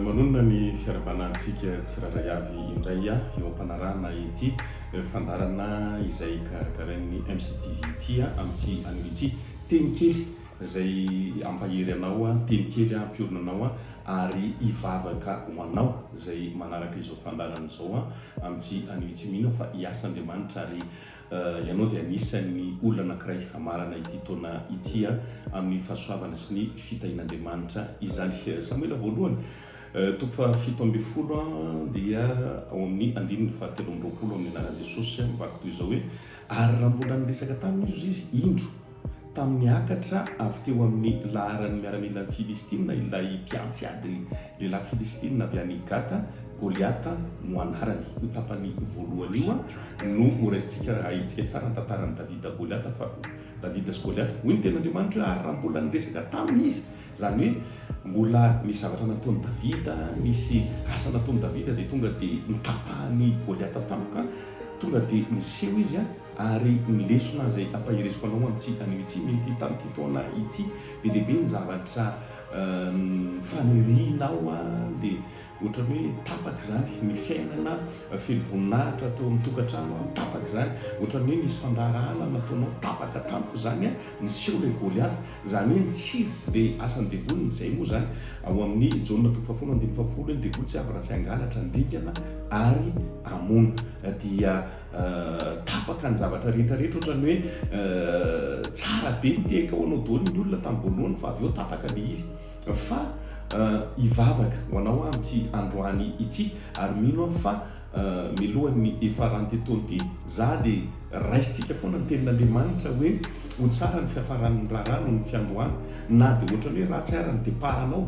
Manonona ny fiarahabanahantsika tsirairay avy indray aho eo am-panarahana ity fandaharana izay karakarain'ny MCTV ity amin'ity anio ity. Teny kely izay hampahery anao, teny kely hampiorina anao ary hivavaka ho anao izay manaraka izao fandaharana izao amin'ity anio ity. Mino aho fa hiasa Andriamanitra ary Ianao dia anisan'ny olona anankiray hamarana ity taona ity amin'ny fahasoavana sy ny fitahian'Andriamanitra izany. Samoela voalohany, toko fahafito ambin'ny folo dia ao amin'ny andininy fahatelo amby roapolo amin'ny anaran'i Jesosy mivaky toy izao hoe, Ary raha mbola niresaka taminy Izy, hoy Izy, Indro, Tamin'ny niakatra avy teo amin'ny laharan'ny miaramilan'i Filistina ilay mpiantsy ady, lehilahy Filistina avy any Gata, Goliata no anarany. Io tapany voalohany io no horaisintsika raha ahintsika tsara ny tantaran'i Davida, Goliata, fa Davida sy Goliata. Hoy ny Tenin'Andriamanitra hoe, Ary raha mbola niresaka taminy izy, izany hoe mbola nisy zavatra nataon'i Davida, nisy asa nataon'i Davida, dia tonga dia nitapahany Goliata tampoka, tonga dia niseho izy. Ary ny lesona izay ampaheresiko anao amin'ity anio ity, mety tamin'ity taona ity, be dia be ny zavatra fanirianao dia ohatran'ny hoe tapaka izany ny fiainana, feno voninahitra tao amin'ny tokantrano, tapaka izany, ohatran'ny hoe nisy fandraharahana nataonao, tapaka tampoka izany, niseho ilay Goliata, izany hoe nitsiry ilay asan'ny devoly, ny izay moa izany ao amin'ny Jaona toko fahafolo andininy fahafolo hoe ny devoly tsy avy raha tsy hangalatra ny dingana ary hamono, dia. tapaka ny zavatra rehetra rehetra otrany hoe tsara be ny tehaka ho anao doly ny olona tamin'ny voalohany fa avy eo tapaka ilay izy fa hivavaka ho anao aho amin'ity androany ity ary mino aho fa melohan'ny hiafarany ity taona ity za dia raisintsika foana ny tenin'Andriamanitra hoe ho tsara ny fiafaran'ny raharaha noho ny fiandohana na dia otrany hoe ratsy ara ny départ anao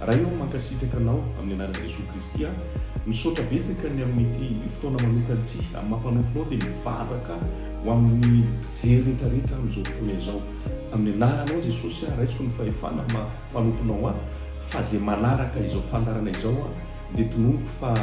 Ray ô, mankasitraka Anao amin'ny anaran'i Jesoa Kristy aho. Misaotra betsaka ny amin'ity fotoana manokana ity. Amin'ny maha mpanomponao dia mivavaka ho amin'ny mpijery rehetra rehetra amin'izao fotoana izao. Amin'ny anaranao Jesosy aho raisiko ny fahefana amin'ny maha mpanomponao ahy fa izay manaraka izao fandaharana izao aho dia tononiko fa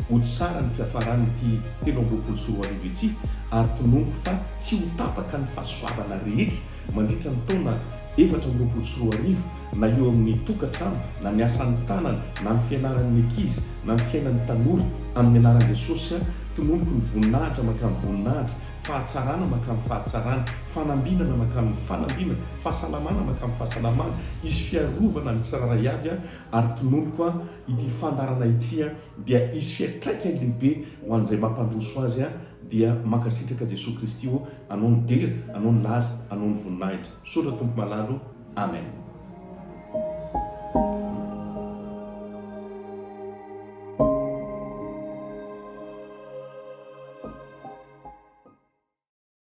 ho tsara ny fiafaran'ity telo amby roapolo sy roa arivo ity ary tononiko fa tsy ho tapaka ny fahasoavana rehetra Mandritra ny taona efatra amby roapolo sy roa arivo, na eo amin'ny tokantrano, na ny asan'ny tanana, na ny fianaran'ny ankizy, na ny fiainan'ny tanora, amin'ny anaran'i Jesosy aho, tononiko ny voninahitra mankamin'ny voninahitra, fahatsarana mankamin'ny fahatsarana, fanambinana mankamin'ny fanambinana, fahasalamana mankamin'ny fahasalamana, hisy fiarovana ny tsirairay avy aho, ary tononiko aho, ity fandaharana ity dia hisy fiantraikany lehibe ho an'izay mampandroso azy, Dia mankasitraka Jesoa Kristy ô, Anao no dera, Anao no laza, Anao no voninahitra. Misaotra Tompo malala ô. Amen.